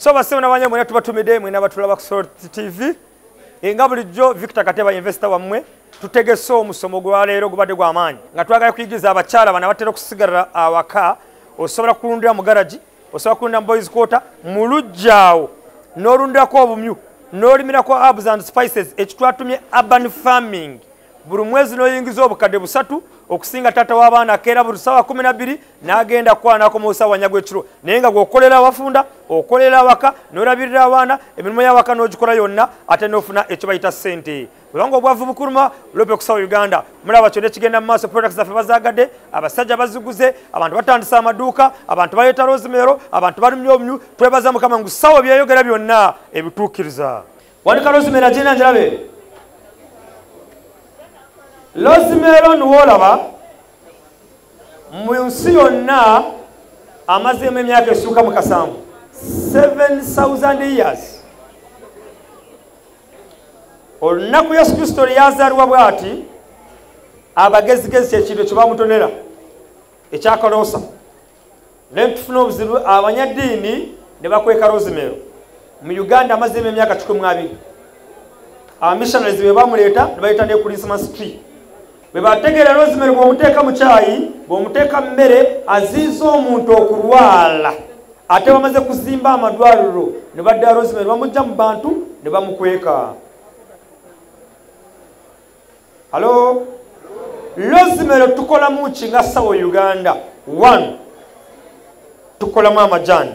so basebo nabanye mwena tubatumide mwena batula bakusol tv enga bulijjo victor kateba investor wamwe tutegese omusomo gwa leero gubadde gwamaanyi nga twagala kuyigiza abakyala bana batera okusigalira awaka osobola kulundira mu garagi osobola kulunda mu boys quarter mu lujjaawo n'olundirako obumyu n'olimirako herbs and spices ekitwatumye urban farming buli mwezi n'oyingiza obukadde busatu okusinga taata w'abaana akeera buli ssaawa kumi nabbiri n'agenda kwanako mu busawanya gw'ekiro naye nga gweokolera awafunda okolera awaka n'olabirira abaana emirimu y'awaka n'ogikola yonna ate n'ofuna ekyo bayita ssente Kulongo obwavu bukuluma lope kusawo Uganda mulaba kyo nekigenda mu maaso products zaffe bazagade abasajja baziguze abantu batandisa amaduuka abantu baleeta rosemero abantu balumya obumyu twebaza mukama ngu sawo byeyogera byonna ebituukiriza wanika rosemero agenda njirabe rosemero niwoolaba mu nsi yonna amazeemu emyaka esuuka mu kasanvu 7000 years olunaku yesu kristo lweyazaalibwa bwati abagezigezi kyekintu ekyo bamutonera ekyakaloosa naye tufuna obuzibu abanyaddiini ne bakweka rozimeero mu uganda amazimu emyaka kikumi abiri abamissionaries be bamuleeta ne bayita ne christmas tree bwe bategeera rosemary bw'omuteeka mu kyayi bw'omuteeka mu mmere aziiza omuntu okulwala ate bamaze kuzimba amadwaliro ne badda rosemary bamujja mu bantu ne bamukweka halo rosemary tukolamu ki nga sawa uganda one tukolamu amajaani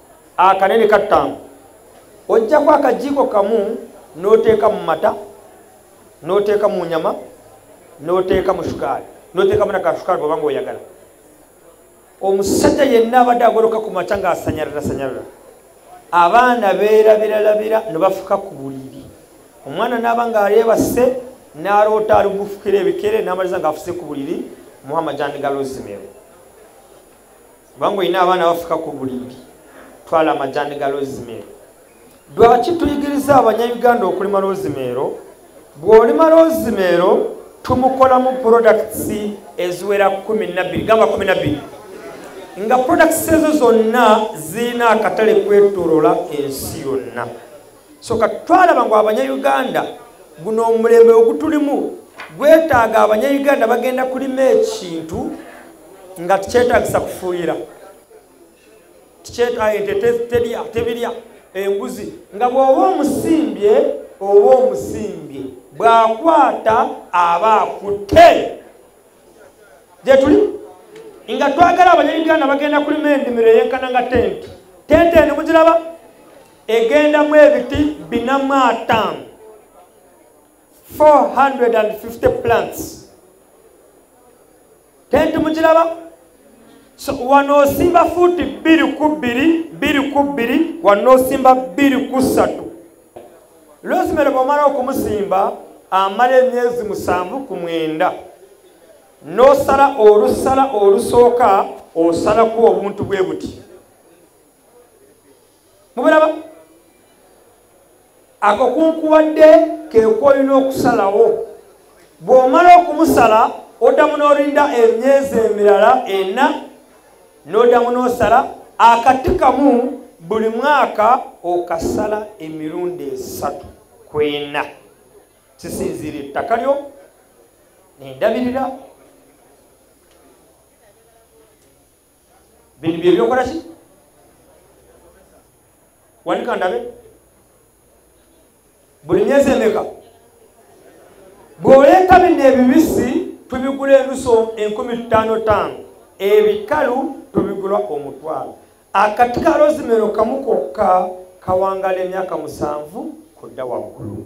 akanene kattaano ojjako akajiiko kamu n'oteeka mu mata n'oteeka mu nyama n'oteeka mu sukaali n'oteekamu nakasukaali bwaba nga oyagala omusajja yenna abadde agoloka ku makya ng'asanyalira sanyalira abaana beerabiralabira ne bafuka ku buliri omwana n'aba ng'ayeebase n'aloota ali gufukira ebikere n'amaliza ng'afuse ku buliri muhammad jani galozimero kubanga olina abaana bafuka ku bulindi twala amajani ga lozimeero lwaki tuyigiriza abanya uganda okulima lozimeero bw'olima lozimeero tumukolamu products eziwera kumi nabiri gamba kumi nabiri nga products ezo zonna zirina akatale kwetolola ensi yonna so kati twalaba ngu abanyauganda guno omulembe ogutulimu gwetaaga abanyauganda bagenda kulima ekintu nga tikyetagisa kufuuyira tebirya embuzi nga bw'oba omusimbye oba omusimbye bw'akwata aba akutte gyetuli nga twagala abanyauganda bagenda kulima endimiro eyenkana nga tenti tenti eno mugiraba egendamu ebiti binamu ataano 450 plants tenti mukiraba so wano osimba fuuti bbiri ku bbiri bbiri ku bbiri wano osimba bbiri ku ssatu lwosimere bwomala okumusimba amala emyezi musanvu ku mwenda n'osala olusala olusooka osalako obuntu bwe buti mubiraba akakunkuwadde kekwolina okusalawo bw'omala okumusala oddamu n'olinda emyezi emirala ena n'oddamu n'osala akati kamu buli mwaka okasala emirundi esatu kwena kisinziira ettaka lyo nendabirira bino byebyokola ki wanika ndabe buli myezi emeka bw'oleeta bino ebibisi tubigula enuso enkumi ttaano ttaano ebikalu tubigula omutwalo akati ka rozimero kamu kokka kawangala emyaka musanvu kudda waggulu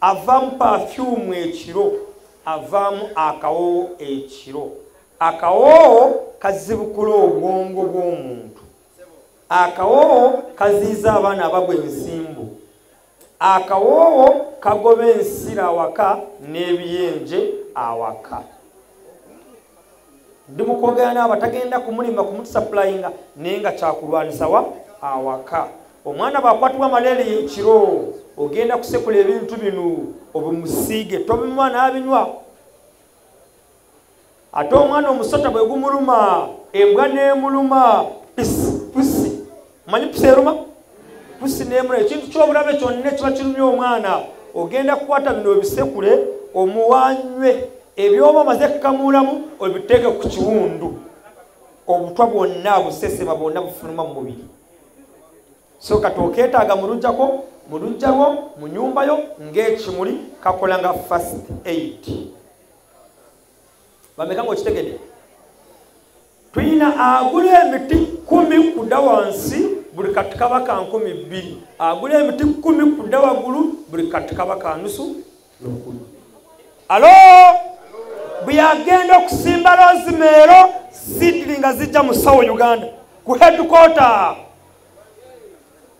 avaamu pafyumu ekiro avaamu akawoowo ekiro akawoowo kazibukula obwongo bw'omuntu akawoowo kaziiza abaana abagwa ensimbu akawoowo kagoba ensira awaka n'ebiyenje awaka ndi mukwogera naaba tagenda kumulimba kumutusapulayinga naye nga kyakulwanisawa awaka omwana bwakwatibwa malaria ekiro ogenda kusekula ebintu bino obimusiige tobimuwa n'abinywa ate omwana omusota bwe gumuluma embwa n'emuluma pisi manyi pusi eruma pusi nemula ekintu kyobulabe kyonna kiba kirumya omwana ogenda kukwata bino ebisekule omuwanywe ebyoba omaze kukamuulamu obiteeke ku kiwundu obutwa bwonna busesema bwonna bufuluma mu mubiri so kati okeetaaga mu lujjako mu lujja lwo mu nyumba yo ng'ekimuli kakola nga fast aid bameka ngaokitegede tuyina agula emiti kumi kuda wansi buli katikabaka nkumi bbiri agula emiti kumi kuda wagulu buli katikabaka nusu nokulu alo bweyagenda okusimba lozimeero sidiri nga zijja mu sawo uganda ku hedukota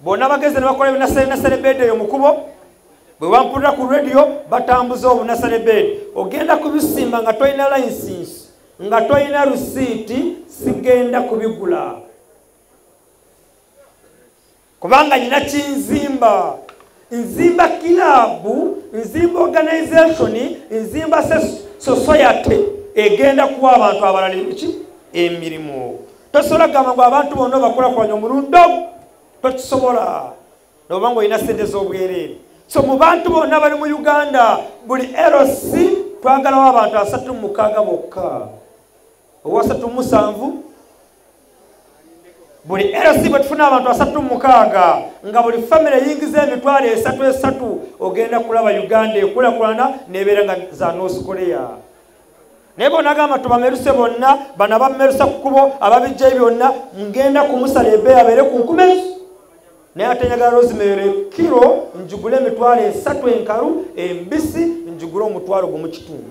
bonna bageze ne bakola ebinaserenaserebeedi eyo mukubo bwe bampulira ku rediyo batambuza obunaserebeedi ogenda kubisimba nga tolina layisinsi nga tolina rusiiti sigenda kubigula kubanga nyina kinzimba nzimba kilaabu nzimba organization nzimba society egenda kuwa abantu abalala eki emirimu tosobola kugamba ngu abantu bonna obakulakulanya omulundi ogu tokisobola noba nga olina sente z'obwereere so mu bantu bonna bali mu uganda buli lc twagalawo abantu asatu mumukaaga bokka owasatu musanvu buli lc bwe tufuna abantu asatu mukaaga nga buli famire eyingiza emitwalo esatu esatu ogenda kulaba uganda ekulakulana nebeera nga za north korea naye bonagamba tubameruse bonna bana bamerusa ku kubo ababijja byonna ngenda kumusala ebe abeere ku nkuma ezo naye ate njagala rosemary kiro njugule emitwalo esatu enkalu embisi njugule omutwalo gumukitundu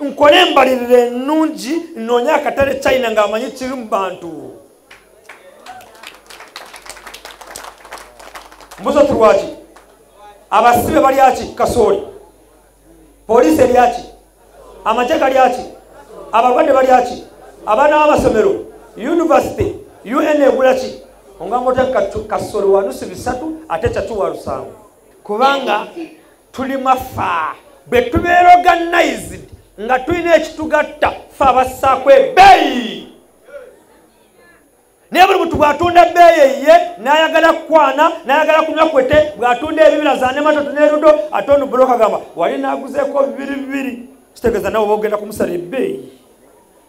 nkole embalirira ennungi nnoonye akatale china ng'amanyi kiri mu bantu mbuzo tulwaki abasibe balyaki kasooli poliisi eryaki amagye galyaki abalwadde balyaki abaana b'amasomero yunivasite un egulaki ongamba otya kasooli wanusi bisatu ate kyaki walusango kubanga tuli mwafa bwe tubeera organized nga tulina ekitugatta fe abassaako ebeeyi naye buli muntu bw'atunda ebbeeyi eyiye n'ayagala kukwana n'ayagala kunywa kwete bw'atunda ebibira za nematoto n'erudo ate onu buloka gamba wali n'aguzeeko bibiri bibiri kitegeeza nawe oba ogenda kumusalira ebbeeyi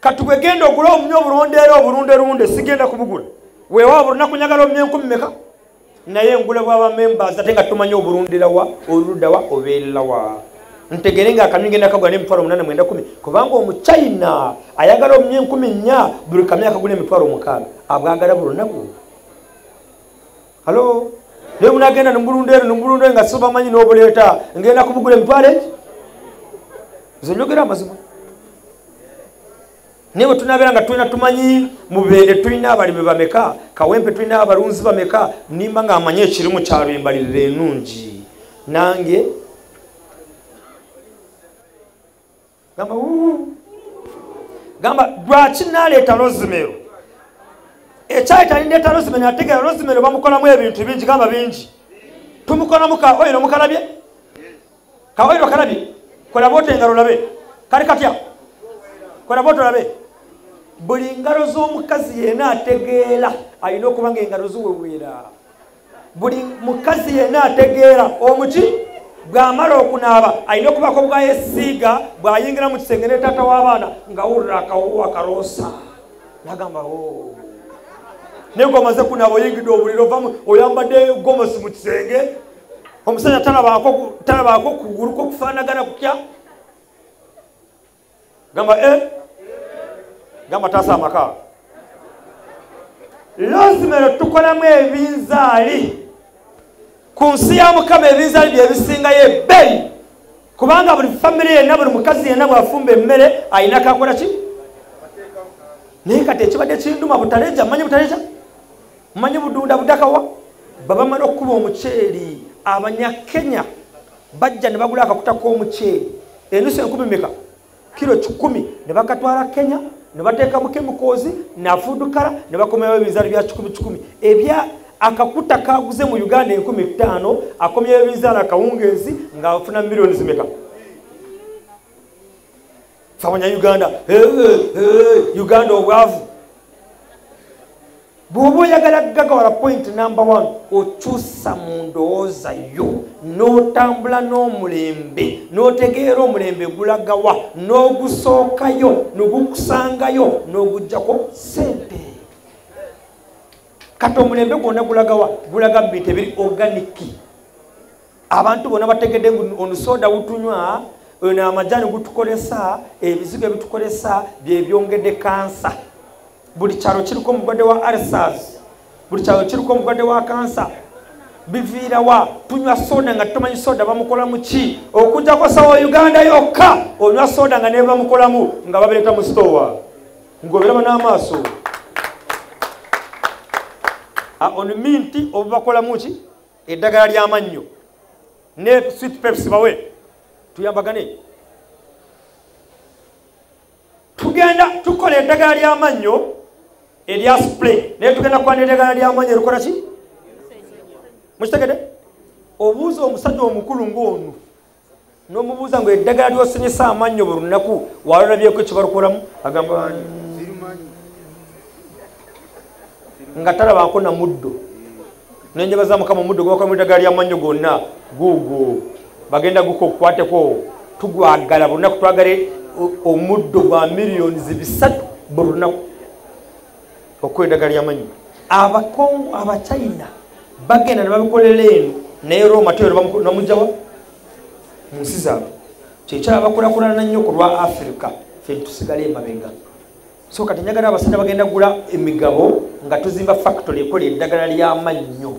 kati bwegenda ogula obunya obulonde era obulunde lunde sigenda kubugula weewaawo bulina kunyagala obunya enkumi meka naye ngula bwabamembers ate nga tumanya obulundirawa oludawa obeererawa ntegere nga akamyu ngenda kagula nemitwalo munana mwenda kumi kubanga omuchina ayagala obunya enkumi nnya buli kamyu akagula emitwalo mukaaga abwagala buli lunaku halo naye munagenda nemulunda eno nemulunda nga sibamanyi nobuleeta ngenda kubugula emitwale eki nze njogera amazima naye bwetunabeera nga tulina tumanyi mubende tulina abalimi bameka kawempe tulina abalunzi bameka nimba nga amanyi ekirimu kyalo embalirira enungi nange gamba gamba lwaki naleeta rosimero ekyali talindeeta rosimero nategeera rosimero bamukolamu ebintu bingi gamba bingi tumukolamu ka oyiro mukalabye ka oyiro kalabye kolaba ota engalo labe kali katya kolaba ota olabe buli ngalo z'omukazi yena ategeera alina okuba nga engalo ziweweera buli mukazi yenna ategeera omuki bw'amala okunaaba alina okubaako bwayesiiga bw'ayingira mu kisenge ne taata w'abaana ngawulira akawuwa kaloosa nagamba o oh. naye ngomaze kunaaba oyingidde obuliro vamu oyambadde gomosi mu kisenge omusajja talabaako kugulu kwokufaanagana kutya gamba e eh? gamba taasa amaka loosimero tukolamu ebinzaali ku nsi ya mukama ebinzaali byebisingayo ebbeyi kubanga buli famiry yenna buli mukazi yenna bwafumba emmere alina kakola ki naye kati ekibadde kinduma butaleja manyi butaleja manyi budunda budakawa babamala okukuba omuceeri abanyakenya bajja ne bagula akakuta k'omuceeri enusu enkumi meka kiro kikumi ne bakatwala kenya ne bateekamu kemikoozi nafuudukala ne bakomyawo ebinzaali bya kikumi kikumi ebya akakuta kaguze mu uganda enkumi etaano akomyawo ebinzaali akawungeezi ng'afuna milioni zimeka fabanya uganda uganda obwavu bw'oba oyagala gagawala point number one okyusa mu ndowooza yo n'otambula n'omulembe n'otegeera omulembe gulagawa n'ogusookayo nogukusangayo n'ogugjako sente kati omulembe gwonna gulagawa gulaga mu bintu ebiri oganiki abantu bona bategedde onusoda wutunywa ono amajani gutukolesa ebizigo ebitukolesa byebyongedde kansa buli kyalo kiriko omugwadde wa arsas buli kyalo kiriko omugwadde wa kansa biviirawa tunywa soda nga tumanyi soda bamukolamu ki okujjako sawa uganda yokka onywa soda nga nebamukolamu nga babireeta mu sitowa ngoberaba n'amaaso ah, on minti obubakolamu ki eddagala lyamannyo ne sweet peps bawe tuyambagane tugenda tukola eddagala lyamannyo erya spray naye tugenda kwana eddagala lyamannyo erikola ki mukitegede obuuza omusajja omukulu ngaono nomubuuza nga eddagala lyosinyisa amannyo buli lunaku walolabyeko ekibalukolamu agamba nga talabako na muddo nenjaba za mukama omuddo gwakola mu eddagala lyamannyo gonna guugu bagenda guka okukwateko tugwagala buli lunaku twagale omuddo gwa milliyoni zibisatu buli lunaku okukola eddagala lyamanyi abakongo abachina bagenda nebabikolera eno naye roma tebamujawa munsi zaabwe kyekyala bakulakulana nnyo ku lwa afirika fe tusigala emabega so kati njagala abasajja bagenda gula emigabo nga tuzimba fakitory ekola eddagala lyamannyo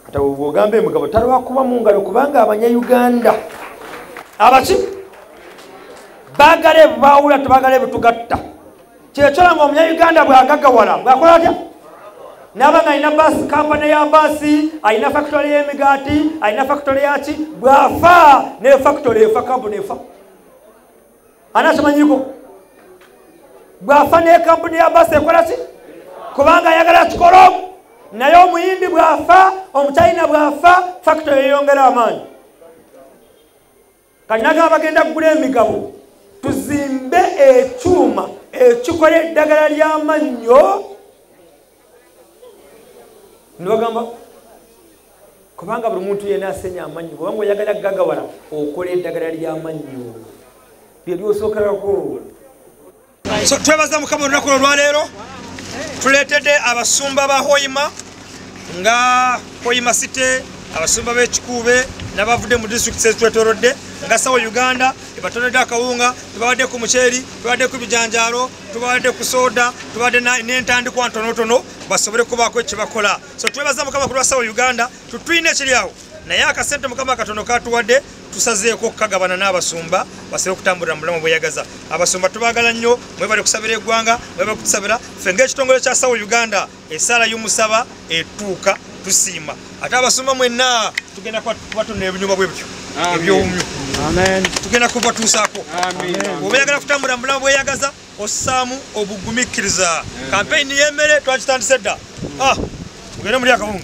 kata ogamba emugabo talwakuba mu ngalo kubanga abanya uganda abaki bagala ebubawula tebagala ebutugatta kyekyola nga omunya uganda bwagagawala bwakola atya naba nga alina basi kampani ya basi alina fakitole y'emigaati alina fakitole yaki bwafa ne fakitole efa kampu nefa anakimanyiko bwafa nekampuni ya basi ekolaki kubanga ayagala kikola omu naye omuyindi bwafa omuchina bwafa fakito yeyongera amaanyi kanagamba bagenda kugula emigabo tuzimbe ekyuma ekikola eddagala lyamannyo nibagamba kubanga buli muntu yena asenya amannyo kubanga oyagala gagawala okola eddagala lyamannyo lyelyosookerako so twebaza mukama olunaku olwaleero tuletedde abasumba ba hoima nga hoima site abasumba b'ekikuube nabavudde mu district zetwetorodde nga sawa uganda ebatonedde akawunga ebabaddeko muceeri ebabaddeko ebijanjaalo tubadde ku soda tubadde n'entandikwa ntonotono basobole kubaako ekibakola so twebaza mukama kulwa sawa uganda tutulina ekiri awo naye akasente mukama katono katuwadde tusazeeko okukagabana n'abasumba basobe okutambulira mu bulamu bweyagaza abasumba tubagala nnyo mwebale kusabira eggwanga mwebale kutusabira ffe ngaekitongole kya sawa uganda esaala y'omusaba etuuka tusiima ate abasoma mwenna tugenda kubatonna ebinyuma bwe bityo ebyowumyo tugenda kubatuusaako oba yagala kutambula mubulamu bweyagaza ossaamu obugumikkiriza kampeyini y'emmere twakitandise dda ah, ogende muli akabungu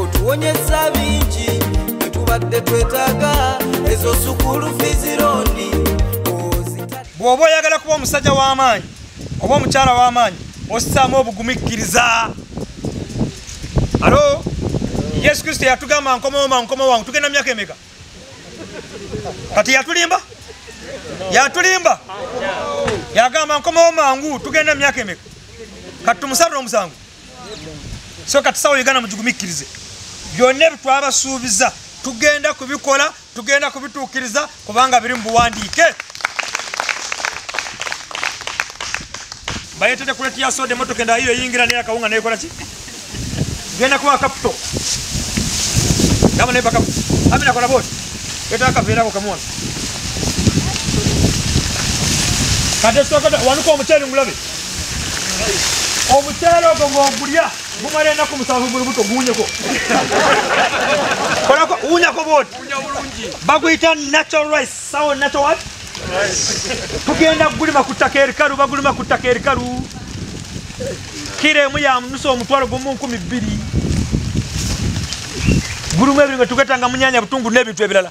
otuwonyesa bingi byetubadde twetaaga ezo sukulu fizirondi bw'oba oyagala kuba omusajja w'amaanyi oba omukyala w'amaanyi osisaamu obugumikkiriza alo yesu kristo yatugamba nkomaoma nkoma wange tugenda myaka emeka kati yatulimba yatulimba yagamba nkomawo mangu tugenda myaka emeka kati tumusarira omusango so kati sawa uganda mugigumikirize byonna ebitwabasuubiza tugenda kubikola tugenda kubituukiriza kubanga biri mu buwandiike bayetede kuleti ya soda emotoka enda iyo yingira naye akawunga naye kola ki genda kuwa kaputo gamba naye bakapu amina kola boti eta akaveerako kamwona kati esitokata wanuka omuceeri ngulabe omukyalo ogwo ng'ogulya gumala enaku musanvu mu lubuto guwunyeko kolako wunyako bwoti baguyita natural rice sawo natural what tugenda kugulima ku ttaka erikalu bagulima ku ttaka erikalu kira emu ya munusa omutwalo gumu nkumi bbiri gulumu ebiri nga tugetanga munyanya butungu n'ebintu ebirala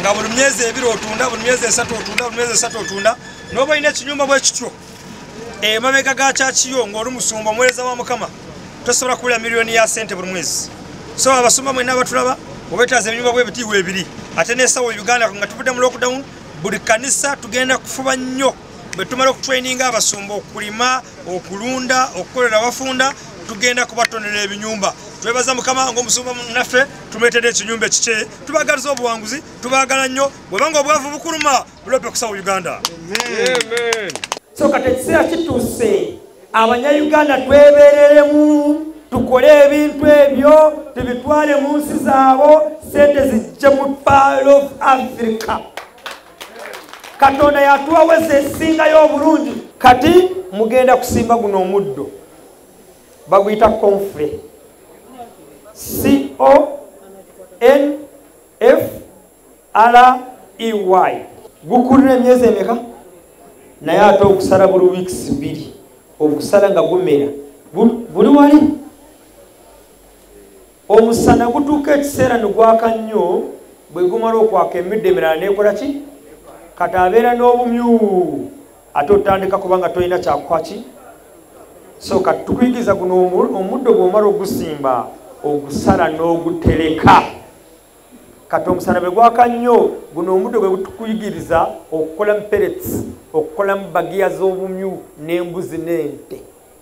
nga buli myezi ebiri otunda buli myezi esatu otunda buli myezi esatu otunda noba olina ekinyumba bwekityo emabega eh, ga kyakiyo ngaoli musumba omuwereza wa mukama tosobola kuwulira miliyoni ya sente buli mwezi so abasumba mwena abatulaba obetaaza ebinyumba bwebitiibwa ebiri ate nesawa uganda nga tuvudde mu lockdown buli kanisa tugenda kufuba nnyo bwetumala okutraininga abasumba okulima okulunda okukolera abafunda tugenda kubatonera ebinyumba twebaza mukama ngaomusumba naffe tumetera ekinyumba ekikye tubagaliza obuwanguzi tubagala nnyo bwebanga obwavu bukuluma bulope kusawo uganda so kati ekiseera kituuse abanyayuganda twebereremu tukole ebintu ebyo tubitwale mu nsi zaabo sente zijje mu pal of africa katonda yatuwaweza esingayo obulungi kati mugenda kusimba guno omuddo baguyita konfure confrey gukulira emyezi emeka naye ate okusala buli weeks biri okusala nga gumera buli wali omusana gutuuka ekiseera negwaka nnyo bwe gumala okwaka emidde emirala nekola ki kati abeera n'obumyu ate otandika kubanga tolina kyakukwaki so kati tukuyigiriza guno omuddo gwomala ogusimba ogusala n'ogutereka kati omusana bwe gwaka nnyo guno omuddo gwe gutukuyigiriza okukolamu perets okukolamu bagiya z'obumyu n'embuzi n'ente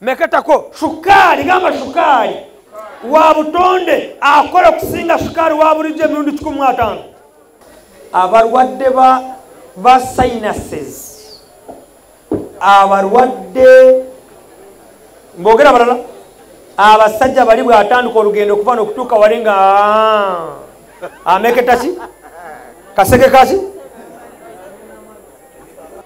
meketako shukaali gamba shukaali wa butonde akola okusinga shukaali wa bulijjo emirundi kikumi mu ataano abalwadde ba sinuses abalwadde mbogera balala abasajja bali bwatandika olugendo okuva nokutuuka wali nga ah, ameketaki kaseke kaki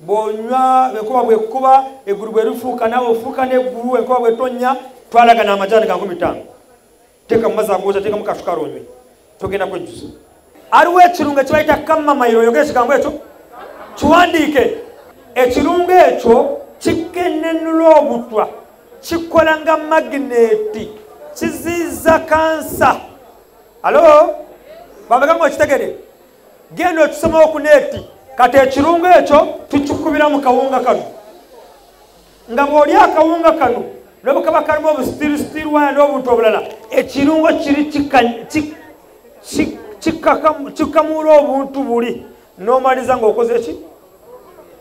bwonywa enkuba bwekukuba eggulu bwerifuuka nawe ofuuka neggulu enkuba bwetonya twalaga namajani ga nkumi ttaano teeka mu mazi agooza teekamu kasukala onywe togenda kwejjusa aliwo ekirungo ekibayita kamamayiro oyogere ekigambo ekyo kiwandiike ekirungo ekyo kikenenula obutwa kikola nga magneeti kiziiza kansa alo bameka nga okitegede genda okisomawo ku neeti kati ekirungo ekyo tukikubira mu kawunga kano nga bw'oli akawunga kano nobukaba kalimu obusitirisitiri waya n'obuntu obulala ekirungo kiri kikamuula obuntu buli n'omaliza ng'okoze ki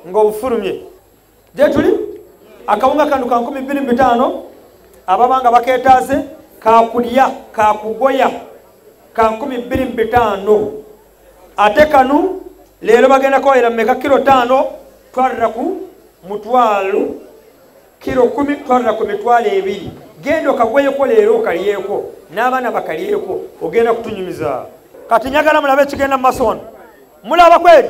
ng'obufulumye gyetuli akawunga kano ka nkumi bbiri mu bitaano ababa nga baketaaze kakulya kakugoya ka nkumi bbiri mu bitaano ate kanu leero bagenda kawayira mumeka kiro taano twalira ku mutwalo kiro kumi twalira ku mitwalo ebiri genda okagoyeko leero okalyeko n'abaana bakalyeko ogenda kutunyumiza kati njagala mulabe ekigenda mu maso wano mulaba kweri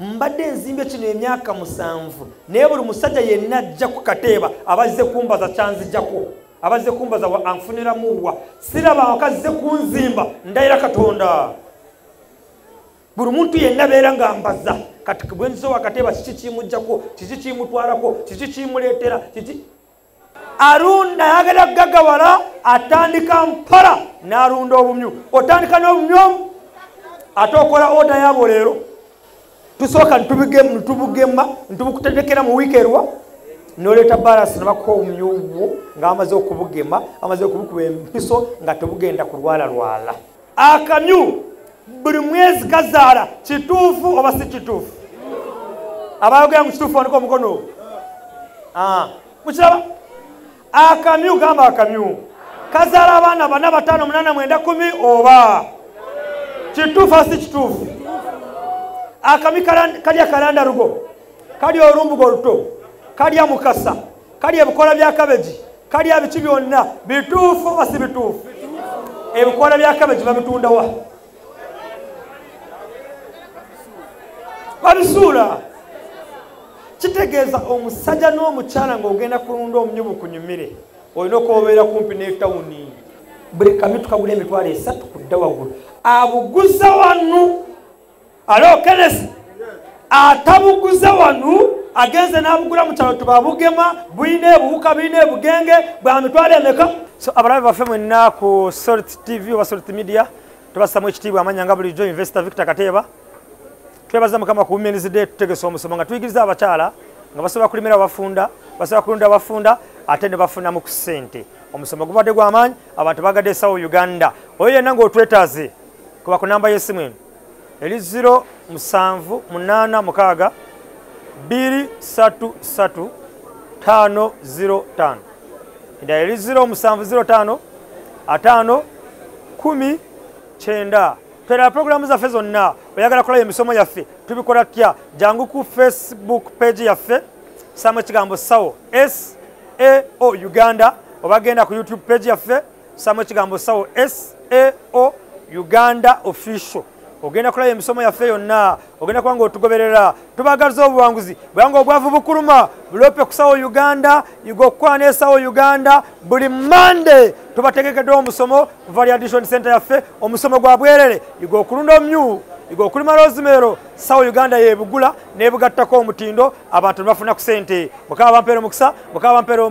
mbadde nzimbye kino emyaka musanvu naye buli musajja yenna ajja ku kateeba abazze kumbaza kyanzijako abazze kumbaza anfuniramuwa siraba wakazze kunzimba ndayira katonda buli muntu yenna beera nga mbaza kati bwenzize wakateeba kiki kimujjako kiki kimutwalako kiki kimuleetera kiki arunda yagala gagawala atandika mpala narunda obumyu otandika nobumyu omu ate okola oda yabo leero tusooka ntubugema ntubukutendekera mu wiiki erwa noleeta balasi nabakuha omuyuwu ngaamaze okubugema amaze okubukuba empiso nga tebugenda kulwalalwala akamyu buli mwezi kazaala kituufu oba si kituufu abayogera mu kituufu andika omukono ah, mukiraba akamyu gamba akamyu kazaala abaana bana bataano munana mwenda kumi oba kituufu asi kituufu akami kalya kalanda rugo kalya olumbuga oluto kalya mukasa kali ebikola bya kabeji kali abiki byonna bituufu oba si bituufu ebikola bya kabeji babitundawa babisuula kitegeeza omusajja n'omukyala ng'ogenda kulunda omunyubu kunyumire olina okwobeera kumpi n'etawuni buli kamitukagula emitwalo esatu kudda waggulu abuguza wanu alo kenesi atabuguza wanu agenze n'abugula mu kyalo tubabugema bulina ebuwuka bulina ebugenge bwa mitwalo emeka so abalabe baffe mwenna ku salt tv oba salt media tubasamu ekitiibwa amanya nga bulijjo investor victor kateeba twebaza mukama ku womens day tutegesa omusomo nga tuyigiriza abakyala nga basobola kulimira abafunda basobola kulunda abafunda ate ne bafunamu ku ssente omusomo gubadde gw'amaanyi abantu bagadde esawo uganda oyo yenna ng'otwetaaze kuba ku namba y'essimu eno eri 0 musanvu munaana mukaaga bbiri satu satu taano ziro taano endala eri ziro musanvu ziro taano ataano kumi kyenda tweraba pulogulaamu zaffe zonna oyagala kulaba emisomo yaffe tubikola tya jangu ku facebook page yaffe saamu ekigambo sawo sao uganda obagenda ku youtube page yaffe samu ekigambo sawo sao uganda official ogenda kulaba emisomo yaffe yonna ogenda kuba nga otugoberera tubagaliza obuwanguzi bwanga obwavu bukuluma bulope kusawo uganda igokwana esawo uganda buli monday tubategekeddewo omusomo kuva liaddition center yaffe omusomo gwa bwerere igokulunda omyu igokulima rosimero sawo uganda yebugula nebugattako omutindo abantu nebafuna ku sente mukaba bampeera omukisa mukaba bampeera